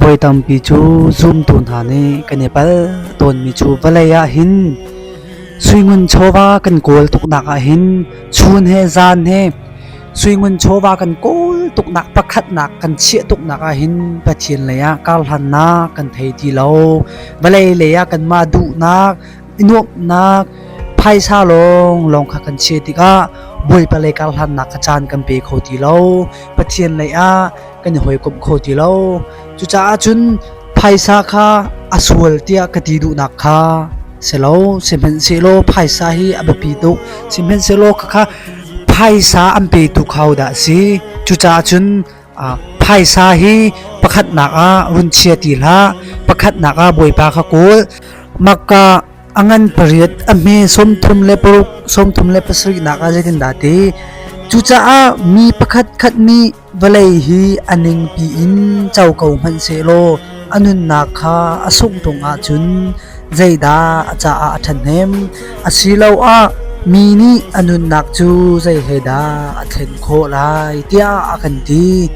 Voi tampi cu zumtu hna nih kan i pal tawnmi cu vawlei ah hin suingun chawva kan kawl tuknak ah hin chun he zan he suingun chawva kan kawl tuknak pakhatnak kan chiah tuknak ah hin Pathian lei ah karhlannak kan thei ti lo vawlei lei ah kan mah duhnak nuamnak phaisa lawng lawng kha kan chia tikah bawipa lei karhlannak kha caan kan pe kho ti lo Pathian lei ah kan i hawikomh kho ti lo. Cucaah cun phaisa kha a sual tiah ka ti duhnak kha si lo. Sihmanhsehlaw phaisa hi a biapi tuk. Sihmanhsehlaw khakha phaisa an petu kho dah si. Cucaah cun ah, phaisa hi pakhatnak ah run chia ti hlah. Pakhatnak ah Bawipa kha kawl. Makka a ngan pariat a hme sawmthum le paruk sawmthum le pasarih nak ah zeitin dah ti. Cucaah mi pakhat khat nih Vawlei hi a ningpi in co ko hmanhsehlaw a nunnak kha a sungṭung ahcun zeidah a caah a ṭhahnem? Asiloah mi nih a nunnak cu zei he dah a thlen khawh lai tiah a kan ti.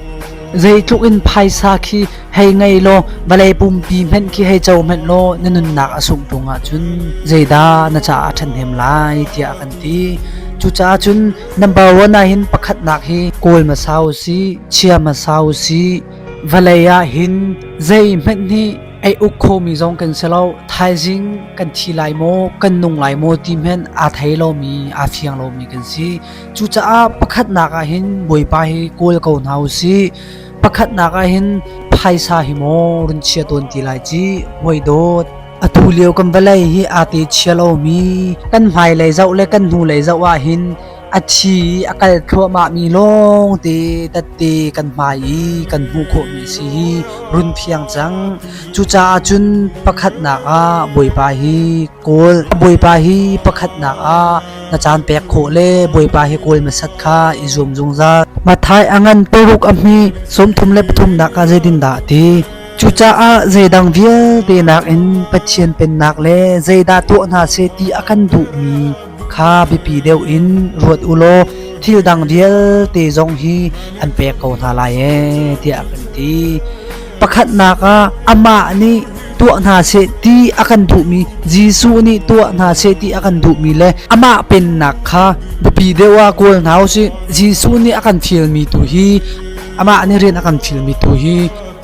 Zeitluk in phaisa khi hei ngei law vawlei pumpi hmanh khi hei co hmanh law na nunnak a sungṭung ahcun zeidah na caah a ṭhahnem lai tiah a kan ti. Cucaah cun Number one ahhin pakhatnak hi kawl hmasa usih, chia hmasa usih. Vawlei ahhin zeihmanh nih ei uk khomi zong kan si lo. Thaizing kan thi lai maw, kan nung lai maw ti hmenh aa thei lomi, aa fiang lomi kan si. Cucaah pakhatnak ahhin Bawipa hi kawl ko hna usih. Pakhatnak ahhin phaisa hi maw run chia tawn ti lai ci, hoi dawt. Atulio kan vawlei hi aa te chia lomi kan hmailei zoh le kan hnulei zoh ahhin a thi i a kal thluahmahmi lawngte tatte kan hmai i kan hmuh khawhmi a si hi run phiang cang. Cucaah cun pakhatnak ah Bawipa hi kawl. Bawipa hi pakhatnak ah na caan pek khawh le Bawipa hi kawl masat kha i zuam zungzal. Mathai a ngan paruk a hmi sawmthum le pathumnak ah zeitin dah ti Cucaah zeidang vialte nakin Pathian Pennak le zeidah tuah hna seh ti a kan duhmi kha biapi deuh in ruat u law thil dang vialte zong hi an pek ko hna lai ee tiah a kan ti. Pakhatnak ah amah nih tuah hna seh ti a kan duhmi Jesuh nih tuah hna seh ti a kan duhmi le amah pennak kha biapi deuh ah kawl hna u sih. Jesuh nih a kan fialmi tu hi amah nih rian a kan fialmi tu hi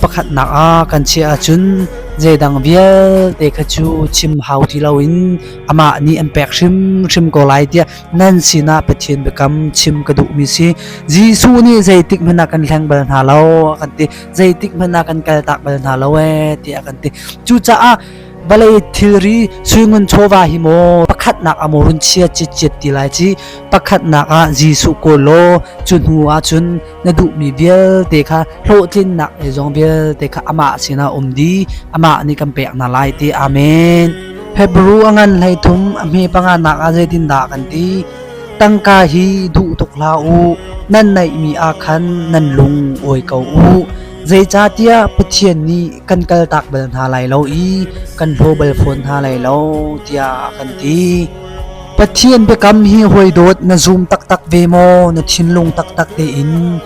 Pakhatnak ah kan chiah ahcun zeidang vialte kha cu chim hau ti loin amah nih an pek hrimhrim ko lai tiah nan sinah Pathian biakam chim ka duhmi si. Jesuh nih zeitik hmanh ah kan hleng bal hna lo a kan ti. Zeitik hmanh ah kan kaltak bal hna lo ee tiah a kan ti. Cucaah vale thilri suingun chawva hi maw pakhatnak amo run chia chit chiat ti lai ci pakhatnak ah Jesuh ko law cu hnu ah cun na duh mi vialte kha hlawhtlinnak e zong vialte kha ama sina um di ama ni kan pek na lai te amen hebrew angan hlei thum a hme panga nak a zeitin da kan ti tangka hi duh tuk la u nan nei mi a khan nan lung oi ko u Zeicahtiah Pathian nih kan kaltak bal hna lai lo i kan hlaw bal fawn hna lai lo tiah a kan ti. Pathian biakam hi hawi dawt na zum taktak ve maw? Na thinlung taktak tein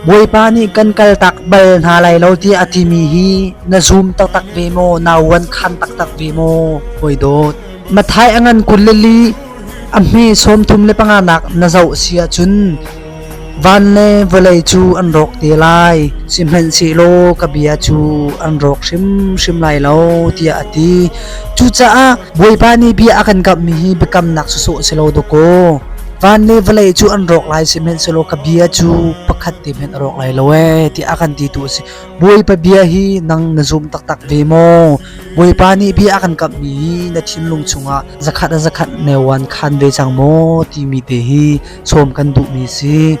Bawipa nih kan kaltak bal hna lai lo tiah a timi hi na zum taktak ve maw? Na uan khan taktak ve maw? Hawi dawt. Mathai a ngan kun le li a hme sawm thum le panga nak na zoh si ahcun Van le vawlei cu an rawk te lai, sihmanhsehlaw ka bia cu an rawk hrimhrim lai lo, tiah a ti. Cucaah Bawipa nih bia a kan kamhmi hi biakamnak sawsawh a si lo dawkaw. Van le vawlei cu an rawk lai, sihmanhsehlaw ka bia cu pakhat te hmanh a rawk lai lo ee, tiah a kan titu a si. Bawipa bia hi nang na zum taktak ve maw? Bawipa nih bia a kan kamhmi na thinlung chungah zakhat a zakhat neuan khan ve cang maw timi te hi sawm kan duhmi si.